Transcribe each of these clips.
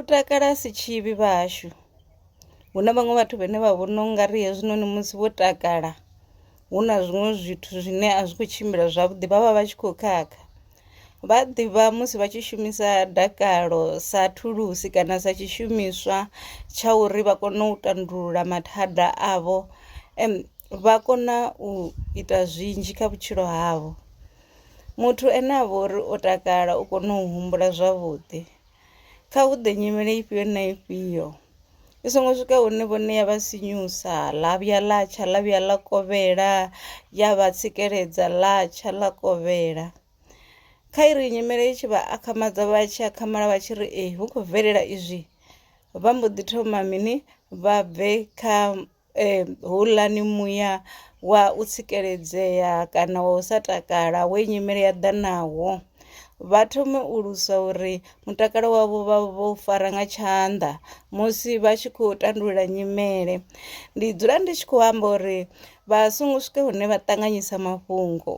U takala a si tshivhi vha hashu, hu na vhaṅwe vhathu vhane vha vhona u nga ri hezwinoni musi vho takala hu na zwiṅwe zwithu zwine a zwi khou tshimbila zwavhuḓi vhavha vha tshi kho khakha. Vha ḓivha musi vha tshi shumisa dakalo sa thulusi kana sa tshishumiswa tsha uri vha kone u tandulula mathada avho vha kona u ita zwinzhi kha vhutshilo havho, muthu ane avha uri o takala u kona u humbula zwavhuḓi. Kha hu ḓe nyimele ifhio na ifhio i songo swika hune vhone ya vha sinyusa ḽa vhuya ḽa tsha ḽa vhuya ḽa kovhela ya vha tsikeledza ḽa tsha ḽa kovhela kha iri nyimele i tshi vha akhamadza vha tshi akhamala vha tshi ri ee hu khou bvelela izwi vha mbo ḓi thoma mini vha bve kha Ee, houḽani muya wa u tsikeledzea kana wa u sa takala we nyimele ya ḓa nawo vha thome u lwisa uri mutakalo wavho vha vho fara nga tshanḓa musi vha tshi khou tandulula nyimele. Ndi dzula ndi tshi khou amba uri vha songo swika hune vha ṱanganyisa mafhungo.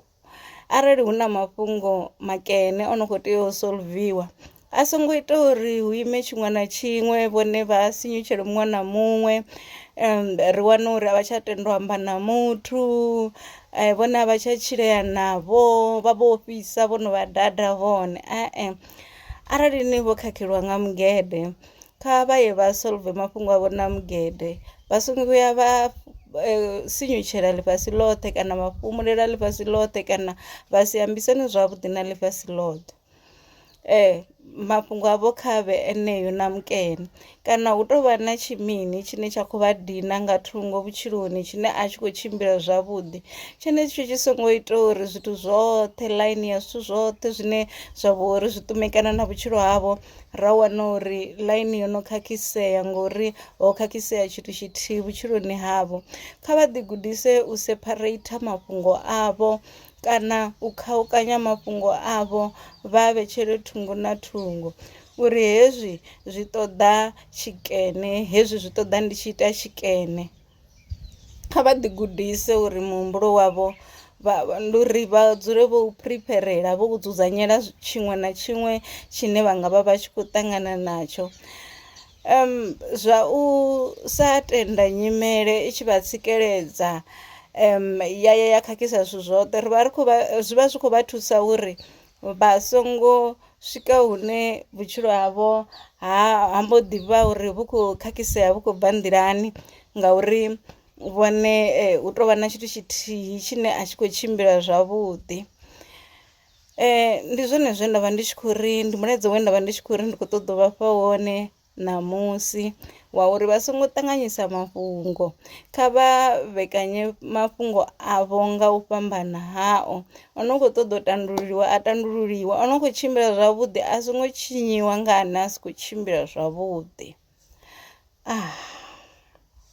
arali hu na mafhungo makene o no kho tea u solviwa a songo ita uri hu ime tshiṅwe na tshiṅwe vhone vha sinyutshele muṅwe na muṅwe ri wane uri a vha tsha tenda u amba na muthu vhone a vha tsha tshilea navho vha vho ofhisa vho no vha dada vhone arali ni vho khakheliwa nga mugede Kha vha ye vha solve mafhungo avho na mugede vha songo vhuya vha sinyutshela ḽifhasi ḽothe kana vha fhumulela ḽifhasi ḽothe kana vha si ambisane zwavhuḓi na ḽifhasi ḽothe. Mafhungo avho kha vhe eneo na mukene kana hu tou vha na tshi mini tshine tsha khou vha dina nga thungo vhutshiloni tshine a tshi khou tshimbila zwavhuḓi, tshenetsho tshi songo ita uri zwithu zwoṱhe ḽaini ya zwithu zwoṱhe zwine zwa vha uri zwi ṱumekana na vhutshilo havho. ra wana uri ḽaini yo no khakhisea ngori ho khakhisea tshithu tshithihi vhutshiloni havho kha vha ḓi gudise u sepharate mafhungo avho kana u khaukanya mafhungo avho vha vhetshele thungo na thungo uri hezwi zwi ṱoḓa tshikene hezwi zwi ṱoḓa ndi tshi ita tshikene. Kha vha ḓi gudise uri muhumbulo wavho vha ndi uri vha dzule vho phiripherela vho dzudzanyela tshiṅwe na tshiṅwe tshine vha nga vha vha tshi khou ṱangana natsho. Zwa u sa tenda nyimele i tshi vha tsikeledza ya ya ya khakhisa zwithu zwoṱhe ri vha ri khou vha zwi vha zwi khou vha thusa uri vha songo swika hune vhutshilo havho ha ha mbo ḓi vha uri vhu khou khakhisea vhu khou bva nḓilani ngauri vhone hu tou vha na tshithu tshithihi tshine a tshi khou tshimbila zwavhuḓi. Ndi zwone zwe nda vha ndi tshi khou ri ndi mulaedza we nda vha ndi tshi khou ri ndi khou ṱoḓa u vhafha wone. ṋamusi wa uri vha songo ṱanganyisa mafhungo. Kha vha vhekanye mafhungo avho nga u fhambana hao, o no kho ṱoḓa u tandululiwa a tandululiwa, o no kho tshimbila zwavhuḓi a songo tshinyiwa nga ane a si kho tshimbila zwavhuḓi .